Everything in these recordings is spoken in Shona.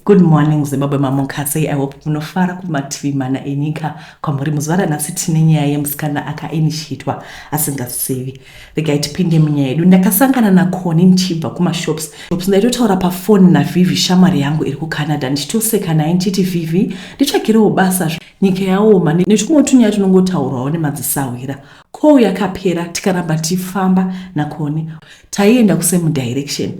Good morning Zimbabwe mamonka sei I hope munofara kumativi mana enyika kwamuri muzuva ranhasi tine nyaya yemusikana akainitiatwa asingazivi regai tipinde munyaya yedu ndakasangana nakoni ndichibva kumashops shops ndaitotaura pafoni navivi shamwari yangu iri kucanada ndichitoseka naye ndichiti vivi nditsvagirewo basa nyika yaoma netumwe tunyaya tunongotaurwawo nemadzisahwira kou yakapera tikaramba tichifamba nakoni taienda kusame direction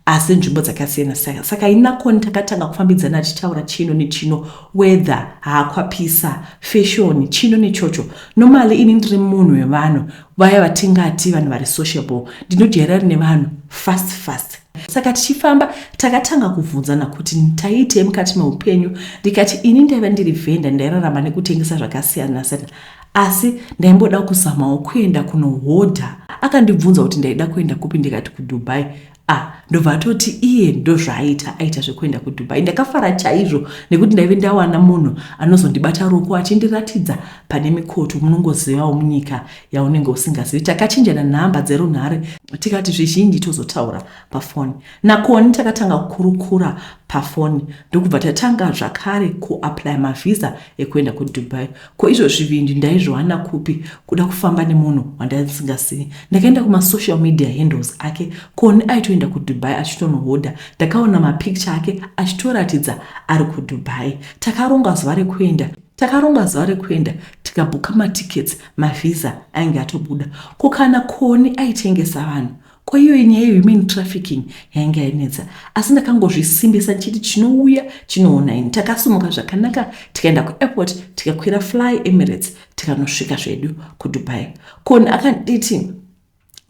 asi nzvimbo dzakasiyana saka saka inakoni takatanga kufambidzana tichitaura chino nechino weather haakwapisa fashoni chino nechocho nomali ini ndiri munhu wevanhu vaya vatingati vanhu vari sociable ndinojairari nevanhu fast fast saka tichifamba takatanga kuvhunzana kuti taitei mukati meupenyu ndikati ini ndaiva ndiri vhenda ndairarama nekutengesa zvakasiyana siyana Asi ndaimboda kuzamawo kuenda kunohodha. Akandibvunza kuti ndaida kuenda kupi ndikati kuDubai. Ah, ndobva atoti iye ndozvaaita aita zvekuenda kuDubai. Ndakafara chaizvo nekuti ndaive ndawana munhu anozondibata ruoko achindiratidza pane mikoto munongozivawo munyika yaunenge usingazivi. Takachinjana nhamba dzerunhare tikati zvizhinji tozotaura pafoni. Nakoni takatanga kukurukura pafoni ndokubva tatanga zvakare kuaplaya mavhiza ekuenda kuDubai. Ko izvo zvivindi ndaizviwana kupi kuda kufamba nemunhu wandandisingasiyi. Ndakaenda kumasocial media handles ake kuone aitoenda kuDubai achitonohodha. Ndakaona mapicture ake achitoratidza ari kuDubai. Takaronga zuva rekuenda Takaronga zuva rekuenda tikabhuka matickets, mavisa ainge atobuda. Ko kana Koni aitengesa vanhu Ko iyoyi nyaya yehuman trafficking yainge yainetsa asi ndakangozvisimbisa ndichiti chinouya chinoona ini. Takasimuka zvakanaka tikaenda kuairport tikakwira fly Emirates tikanosvika zvedu kuDubai. Koni akanditi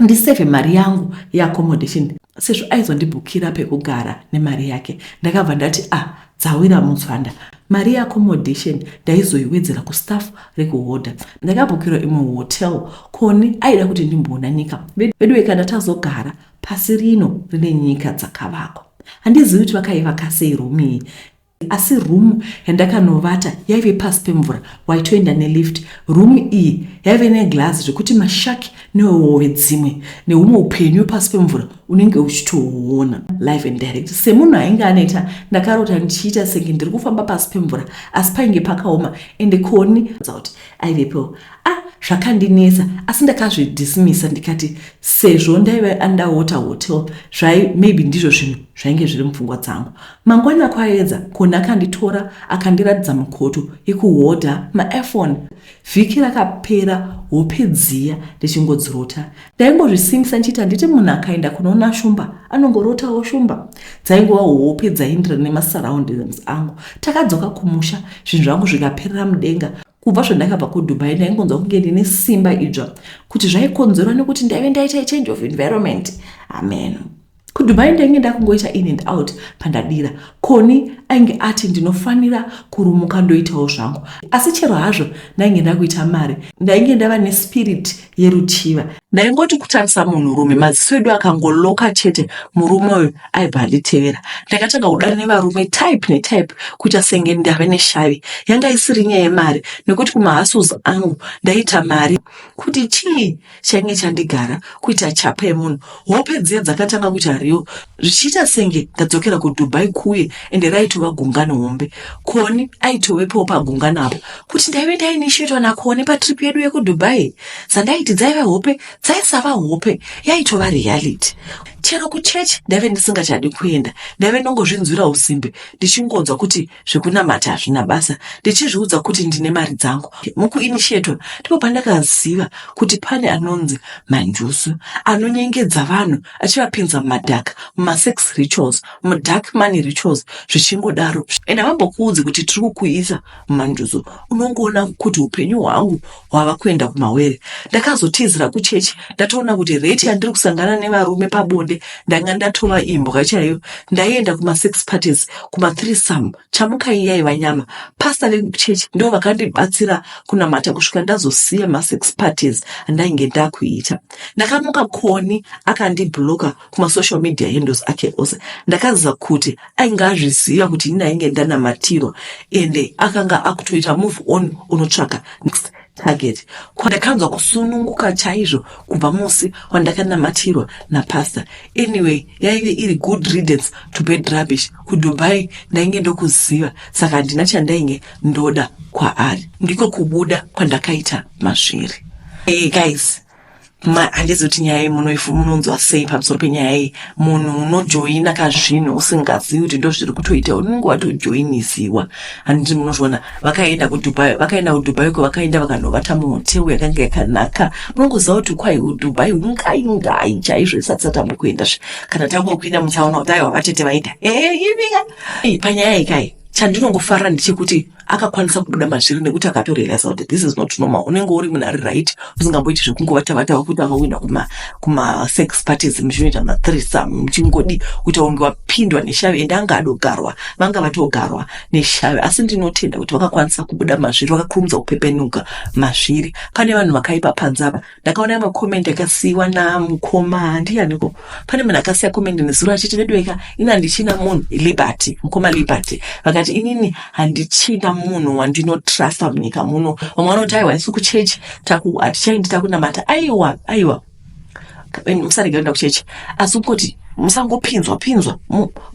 ndiseve mari yangu yeaccommodation sezvo aizondibhukira pekugara nemari yake. Ndakabva ndati ah dzawira mutswanda mari yeaccommodation ndaizoiwedzera kustaff rekuhodha ndakabhukirwa imwe hotel koni aida kuti ndimboona nyika veduwe kana tazogara pasi rino rine nyika dzakavakwa handizivi kuti vakaivaka sei room iyi asi room yandakanovata yaive pasi pemvura waitoenda nelift room iyi yaive neglazi zvekuti mashaki newewowe dzimwe neumwe upenyu pasi pemvura unenge uchitoona live and direct semunhu ainge anoita ndakarota ndichiita senge ndiri kufamba pasi pemvura asi painge pakaoma ende koni kuti aivepo a ah, zvakandinetsa asi ndakazvidismisa ndikati sezvo ndaive andaota hotel zvai maybe ndizvo zvinhu zvainge zviri mupfungwa dzangu mangwana kwaedza koni akanditora akandiratidza mukoto yekuhodha maefone Vhiki rakapera hope dziya ndichingodzirota. Ndaingozvisimisa ndichiita nditi munhu akaenda kunoona shumba anongorotawo shumba. Dzaingova hope dzaindira nemasurroundings angu. Takadzoka kumusha zvinhu zvangu zvikaperera mudenga kubva zvandakabva kudubai ndaingonzwa kunge ndine simba idzva kuti zvaikonzerwa nekuti ndaive ndaita change of environment ameno kudubai ndainge ndakungoita in and out pandadira koni ainge ati ndinofanira kurumuka ndoitawo zvangu asi chero hazvo ndainge ndakuita mari ndainge ndava nespirit yeruchiva ndaingoti kutarisa munhurume maziso edu akangoloka chete murume uyu aibva anditevera ndakatanga kudana nevarume type netype kuita senge ndave neshavi yanga isiri nyaya yemari nekuti kumahasuz angu ndaita mari kuti chii chainge chandigara kuita chapa yemunhu hope dziya dzakatanga kuti hariwo zvichiita senge ndadzokera kudubai kuye ende raitova gungano hombe koni aitovepowo pagungano apo kuti ndaive ndainishetwa nakoni patrip yedu yekudubai dzandaiti dzaive hope dzaisava hope yaitova reality chero kuchechi ndaive ndisingachadi kuenda ndaive ndongozvinzwira usimbe ndichingonzwa kuti zvekunamata hazvina basa ndichizviudza kuti ndine mari dzangu mukuinisheto ndipo pandakaziva kuti pane anonzi manjusu anonyengedza vanhu achivapinza mumadhaka mumasex rituals mudark money rituals zvichingodaro and havambokuudzi kuti tiri kukuisa mumanjusu unongoona kuti upenyu hwangu wava kuenda kumawere ndakazotizira kuchechi ndatoona kuti rate yandiri kusangana nevarume pabonde ndanga ndatova imbwa chaiyo ndaienda kumasix parties kumathree sum chamukai yaiva nyama pasta vekuchechi ndo vakandibatsira kunamata kusvika ndazosiya masix parties andainge ndakuita ndakamuka koni akandibloka kumasocial media handles ake ose ndakaziva kuti ainge azviziva kuti ini ainge ndanamatirwa ende akanga akutoita move on unotsvaka next target kwandakanzwa kusununguka chaizvo kubva musi wandakanamatirwa napastor anyway yaive iri good readence to bed rubbish kudubai ndainge ndokuziva saka handina chandainge ndoda kwaari ndiko kubuda kwandakaita masviri hey guys handizi kuti nyaya iyi munonzwa sei pamusoro penyaya iyi munhu unojoina ka zvinhu usingazivi kuti ndo zviri kutoita unenge watojoiniziwa handiti munozviona vakaenda kudubai vakaenda kudubai ko vakaenda vakanovata muhoteu yakanga yakanaka munongoziva kuti kwai kudubai ngai ngai chaizvo isati satamba kuenda zve kana tangokuinda muchaona kuti aiwa vatete vaita ee eh, ivika panyaya ikai chandinongofara ndechekuti akakwanisa kubuda mazviri nekuti akatorealisa kuti this is not normal unenge uri munhu ari right usingamboiti zvekungovatavata vakuti vakawina kuma kumasex parties muchinoita mathrisam muchingodi kuita unge wapindwa neshavi ende anga adogarwa vanga vatogarwa neshavi asi ndinotenda kuti vakakwanisa kubuda mazviri vakakurumidza kupepenuka mazviri pane vanhu vakaipa panze apa ndakaona ma comment akasiiwa na mukoma ndiyaniko pane munhu akasiya comment nezuro achiti veduweka ini handichina munhu liberty mukoma liberty vakati inini handichina munhu wandinotrasta munyika muno vamwe vanoti aiwa isu kuchechi hatichaindi takunamata aiwa aiwa musarega kuenda kuchechi asi kungoti musangopinzwa pinzwa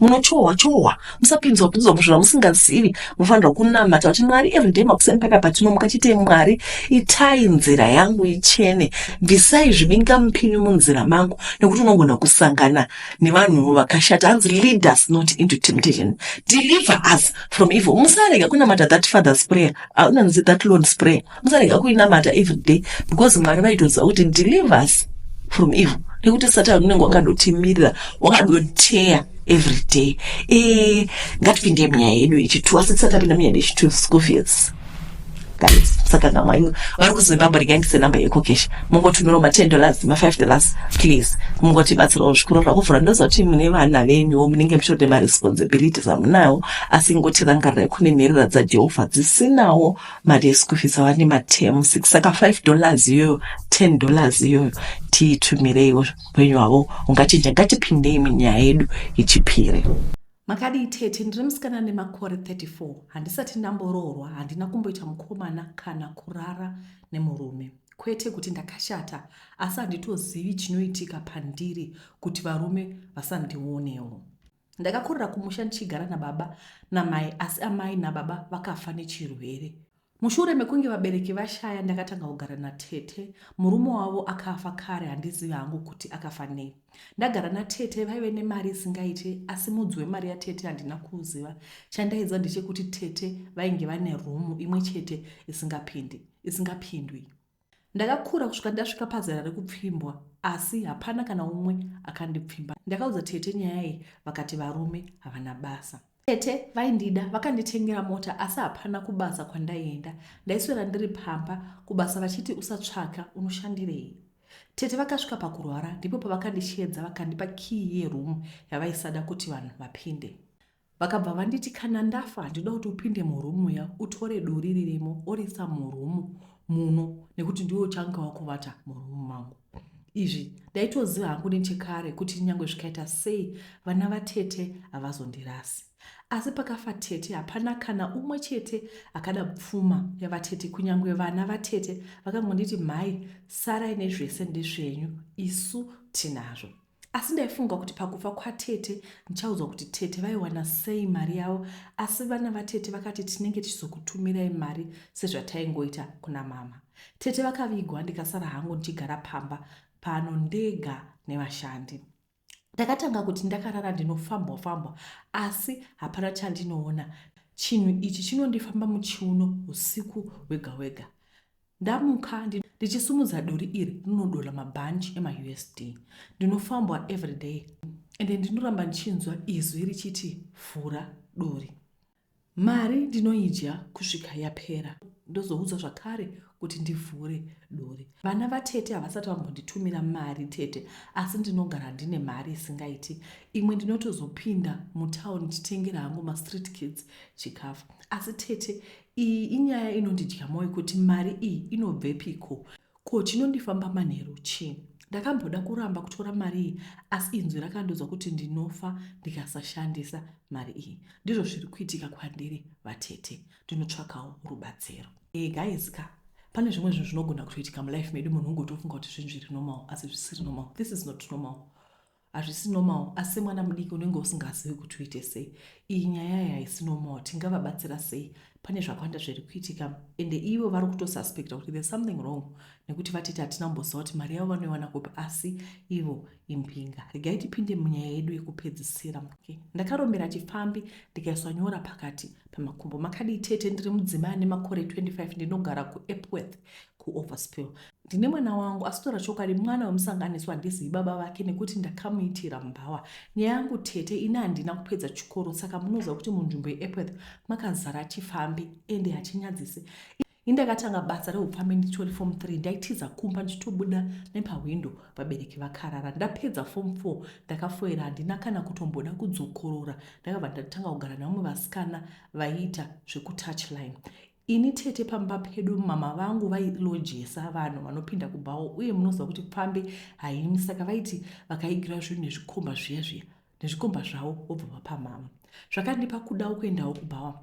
munochohwa chohwa musapinzwa pinzwa muzvinhu vamusingazivi munofanirwa kunamata kuti mwari everyday makuseni paya patinomuka chite mwari itai nzira yangu ichene bvisai zvibinga mupinyu munzira mangu nekuti unogona kusangana nevanhu vakashata hanzi lead us not into temptation deliver us from evil musarega kunamata that father's prayer aunanzi ah, that lord's prayer musarega kuinamata every day because mwari vaitoziva kuti deliver us from evil nekuti satani unenge wakandotimirira wakandoteya every day e ngatipinde munyaya yedu yechituwa asi tisati tapinda munyaya yechituwa school fees guys saka ngamwanyu vari kuzimbabwe regai ndise number yekokesha mungotumirawo ma10 dollars ma5 dollars please mungotibatsirawo zvikuru zvakuvhura ndozoti mune vana venyuwo munenge muchitode maresponsibilities amunawo asi ngotirangarirai kune nherera dzajehovha dzisinawo mari yeschool fees awani materm six saka five dollars iyoyo ten dollars iyoyo tiitumireiwo upenyu hwavo ungachinja ngatipindei munyaya yedu yechipiri makadii tete ndiri musikana nemakore 34 handisati ndamboroorwa handina kumboita mukomana kana kurara nemurume kwete kuti ndakashata asi handitozivi chinoitika pandiri kuti varume vasandionewo Ndakakurira kumusha ndichigara nababa namai asi amai nababa vakafa nechirwere. Mushure mekunge vabereki vashaya ndakatanga kugara natete. Murume wavo akafa kare handizivi hangu kuti akafa nei. Ndagara natete vaive nemari isingaite asi mudzi wemari yatete handina kuuziva. Chandaiziva ndechekuti tete vainge vane room imwe chete isingapindi isingapindwi. Ndakakura kusvika ndasvika pazera rekupfimbwa asi hapana kana umwe akandipfimba. Ndakaudza tete nyaya iyi vakati varume havana basa. Tete vaindida vakanditengera mota asi hapana kubasa kwandaienda. Ndaiswera ndiri pamba kubasa vachiti usatsvaka unoshandirei. Tete vakasvika pakurwara ndipo pavakandisheedza vakandipa kiyi yeroom yavaisada kuti vanhu vapinde. Vakabva vanditi kana ndafa ndinoda kuti upinde muroom muya utore duri ririmo oriisa muroom muno nekuti ndiwe uchanga wakuvata muroom mangu. Izvi ndaitoziva hangu nechekare kuti nyangwe zvikaita sei vana vatete havazondirasi. Asi pakafa tete hapana kana umwe chete akada pfuma yavatete kunyange vana vatete vakangonditi mhai sarai nezvese ndezvenyu isu tinazvo. asi ndaifunga kuti pakufa kwatete ndichaudzwa kuti tete vaiwana sei mari yavo asi vana vatete vakati tinenge tichizokutumirai mari sezvataingoita kuna mama tete vakavigwa ndikasara hangu ndichigara pamba pano ndega nevashandi ndakatanga kuti ndakarara ndinofambwa fambwa asi hapana chandinoona chinhu ichi chinondifamba muchiuno usiku hwega hwega Ndamuka ndichisumudza duri iri rinodola mabhanji emaUSD. Ndinofambwa everyday ende ndinoramba ndichinzwa izwi richiti vhura duri. Mari ndinoidya kusvika yapera ndozoudzwa zvakare kuti ndivhure duri. Vana vatete havasati vambonditumira mari tete asi ndinogara ndine mari isingaiti. Imwe ndinotozopinda mutown ndichitengera hangu mastreet kids chikafu. Asi tete Iyi inyaya inondidya moyo kuti mari iyi inobvepiko ko chinondifamba manheru chii. Ndakamboda kuramba kutora mari iyi asi inzwi rakandiudza kuti ndinofa ndikasashandisa mari iyi. Ndizvo zviri kuitika kwandiri vatete. Ndinotsvakawo rubatsiro. E, guys ka pane zvimwe zvinhu zvinogona kutoitika mulife medu munhu ungotofunga kuti zvinhu zviri normal asi zvisiri normal. This is not normal. hazvisi normal asi semwana mudiki unenge usingazivi kuti uite sei iyi nyaya iyi haisi normal tingavabatsira sei pane zvakawanda zviri kuitika ende ivo vari kutosuspecta kuti there's something wrong nekuti vatiti hatina kumboziva kuti mari yavo vanoiwana kupi asi ivo imbinga regai tipinde munyaya yedu yekupedzisira okay. ndakarombera chipfambi ndikaiswa nyora pakati pemakumbo makadii tete ndiri mudzimai ane makore 25 ndinogara kuepworth kuoverspill ndine mwana wangu asitora chokwadi mwana wemusanganiso handizivi baba vake nekuti ndakamuitira mbawa nyaya yangu tete ini handina kupedza chikoro saka munoziva kuti munzvimbo yeepworth makazara chifambi ende hachinyadzise indakatanga basa reupfambi nditori fom 3 ndaitiza kumba ndichitobuda nepahwindo vabereki vakarara ndapedza fom 4 ndakafoira handina kana kutomboda kudzokorora ndakabva ndatanga kugara nevamwe vasikana vaiita zvekutouchline Ini tete pamba pedu mama vangu vailojesa vanhu vanopinda kubhawo uye munoziva kuti pfambi haimi saka vaiti vakaigira zvinhu nezvikomba zviya zviya nezvikomba zvavo vobva vapamama zvakandipa kudawo kuendawo kubhawa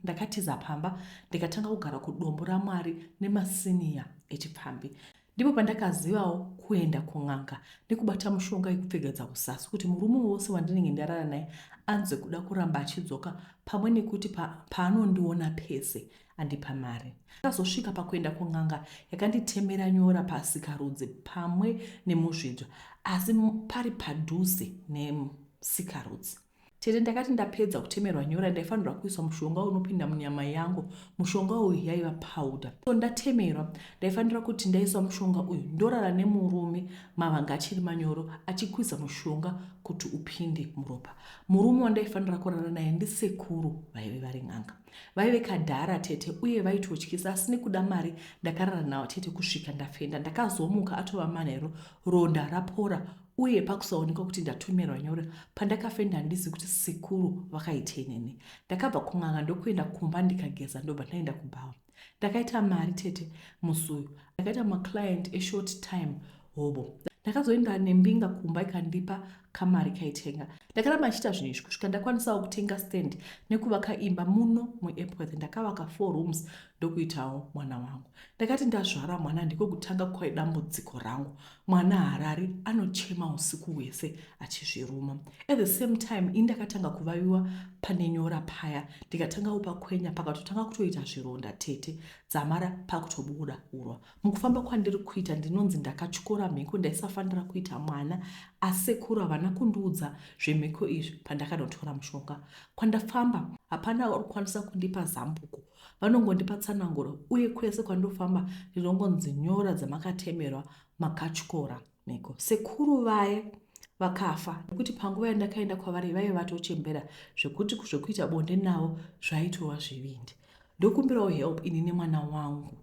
ndakatiza pamba ndikatanga kugara kudombo ramwari nemasiniya echipfambi Ndipo pandakazivawo kuenda kun'anga nekubata mushonga yekupfekedza kuzasi kuti murume wose wandinenge ndarara naye anzwe kuda kuramba achidzoka pamwe nekuti pa, paanondiona pese andipa mari. Ndakazosvika pakuenda kun'anga yakanditemera nyora pasikarudzi pamwe nemuzvidzwa asi pari padhuze nesikarudzi. Tete ndakati ndapedza kutemerwa nyora ndaifanirwa kuisa mushonga unopinda munyama yangu mushonga uyu yaiva powder so ndatemerwa ndaifanira kuti ndaisa mushonga uyu ndorara nemurume mavanga achiri manyoro achikwiza mushonga kuti upinde muropa murume wandaifanira kurara naye ndisekuru vaive vari n'anga vaive kadhara tete uye vaitotyisa asi nekuda mari ndakarara nawo tete kusvika ndafenda ndakazomuka atova manheru ronda rapora uye pakusaonekwa kuti ndatumirwa nyora pandakafenda handizivi kuti sekuru vakaitei neni ndakabva kun'anga ndokuenda kumba ndikageza ndobva ndaenda kubhawa ndakaita mari tete musi uyu ndakaita maclient eshort time hobo ndakazoenda nembinga kumba ikandipa kamari kaitenga ndakaramba ndichiita zvinhu izvi kusvika ndakwanisawo kutenga stand nekuvaka imba muno muepworth ndakavaka four rooms ndokuitawo mwana wangu ndakati ndazvara mwana ndiko kutanga kwaidambudziko rangu mwana harari anochema usiku hwese achizviruma at the same time ini ndakatanga kuvaviwa pane nyora paya ndikatanga upakwenya pakatotanga kutoita zvironda tete dzamara pakutobuda urwa mukufamba kwandiri kuita ndinonzi ndakatyora mhiko ndaisafanira kuita mwana asekuru havana kundiudza zvemhiko izvi pandakanotora mushonga kwandafamba hapana uri kukwanisa kundipa zambuko Vanongondipa tsananguro uye kwese kwandinofamba ndinongonzi nyora dzamakatemerwa makatyora mhiko. Sekuru vaye vakafa nekuti panguva yandakaenda kwavari vaive vatochembera zvekuti zvekuita bonde navo zvaitova zvivindi. Ndokumbirawo help ini nemwana wangu.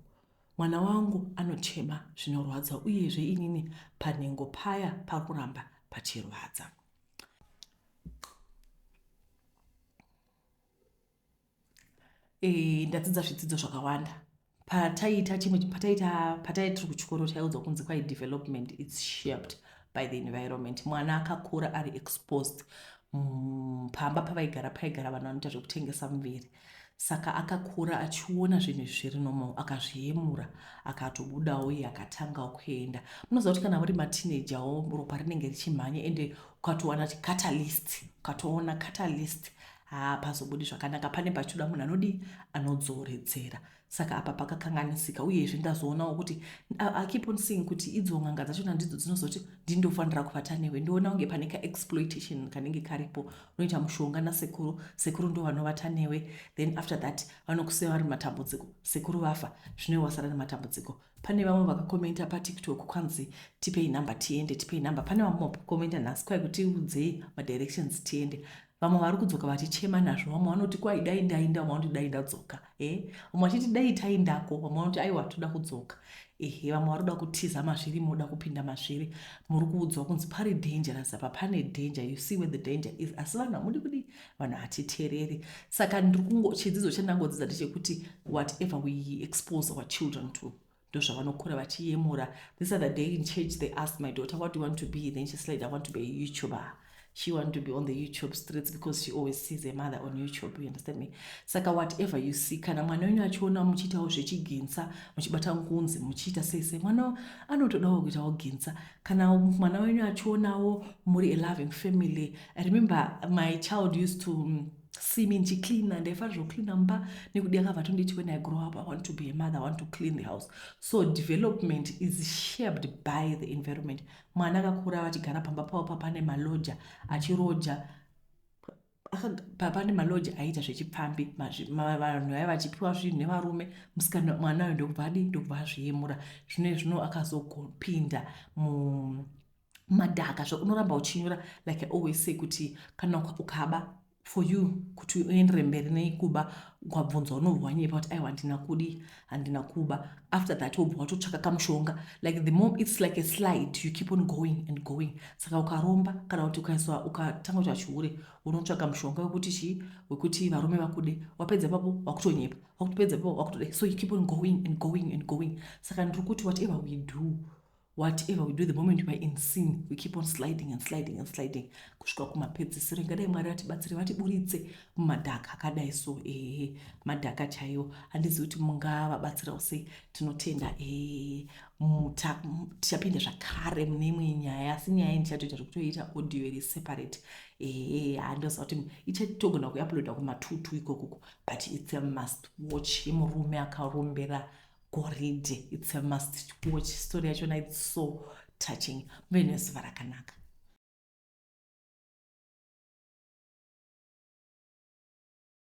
Mwana wangu anochema zvinorwadza uyezve inini panhengo paya pari kuramba pachirwadza. Eh, ndadzidza zvidzidzo zvakawanda pataiita chimwe pataiita patai tiri kuchikoro taiudzwa kunzi kwai development its shaped by the environment mwana akakura ari exposed mm, pamba pavaigara paigara vanhu vanoita zvekutengesa muviri saka akakura achiona zvinhu izvi zviri normal akazviyemura akatobudawo iye akatanga kuenda munoziva kuti kana muri mateenagerwo ropa rinenge richimhanya ende ukatowana catalyst ukatoona catalyst haa pazobudi zvakanaka pane pachoda munhu anodii anodzoredzera saka apa pakakanganisika uyezve ndazoonawo kuti akip on seeing kuti idzo n'anga dzachona ndidzo dzinozoti ndindofanira kuvata newe ndoona kunge pane kaexploitation kanenge karipo unoita mushonga nasekuru sekuru ndo vanovata newe then after that vanokusiya vari matambudziko sekuru vafa zvine wasara nematambudziko pane vamwe vakakomenta patiktok kwanzi tipei number tiende tipei number pane vamwe vakomenta nhasi kwai kutiudzei madirections tiende vamwe vari kudzoka vachichema nazvo vamwe vanoti kwai dai ndainda vamwe vanoti dai ndadzoka e eh? vamwe vachiti dai itai ndako vamwe vanoti aiwa toda kudzoka ehe vamwe vari kuda kutiza mazviri moda kupinda mazviri muri kuudzwa kunzi pari dangerous apa pane danger you see where the danger is asi vanhu hamudi kudi vanhu hatitereri saka ndiri kungo chidzidzo chandangodzidza ndechekuti whatever we expose our children to ndozvavanokura vachiyemura this other day in church they asked my daughter what do you want to be then she said i want to be a youtuber she want to be on the youtube streets because she always sees a mother on youtube you understand me saka whatever you see kana mwana wenyu achiona muchiitawo zvechiginsa muchibata ngunzi muchiita sei sei mwana anotodawo kuitawo ginsa kana mwana wenyu achionawo muri a loving family remember my child used to see me ndichicleana ndaifanira zvocleana mumba nekuti akabva tonditi when i grow up i want to be a mother i want to clean the house so development is shaped by the environment mwana akakura vachigara pamba pavo papane maloja achiroja papane maloja aiita zvechipfambi vanhu vaiva vachipiwa zvinhu nevarume musikana mwana ayo ndokubva adi ndokubva azviyemura zvino zvino akazopinda mu madhaka zvakunoramba uchinyora like i always say kuti kana ukaba for you kuti uendere mberi nekuba ukabvunzwa unobva wanyepa kuti aiwa handina kudi handina kuba after that wobva watotsvaka kamushonga like the mom its like a slide you keep on going and going saka ukaromba kana kuti ukaiswa ukatanga kuti achihure unotsvaka mushonga wekuti chii wekuti varume vakude wapedza papo wakutonyepa wakutopedza papo wakutoda so you keep on going and going and going saka ndiri kuti whatever we do whatever we do the moment weare in sin we keep on sliding and sliding and sliding kusvika kumapedzisiro ingadai mwari vatibatsire vatiburitse mumadhaka akadai so ehe madhaka chaiwo handizivi kuti mungavabatsirawo sei tinotenda ehe muta tichapinda zvakare mune imwe nyaya asi nyaya iyi ndichatoita zvekutoita audio iri separate ehe handoziva kuti ichatogona kuiuploada kumatutu ikokoko but its a must watch yemurume akarombera goridhe its a must watch story yachona its so touching muve nezuva rakanaka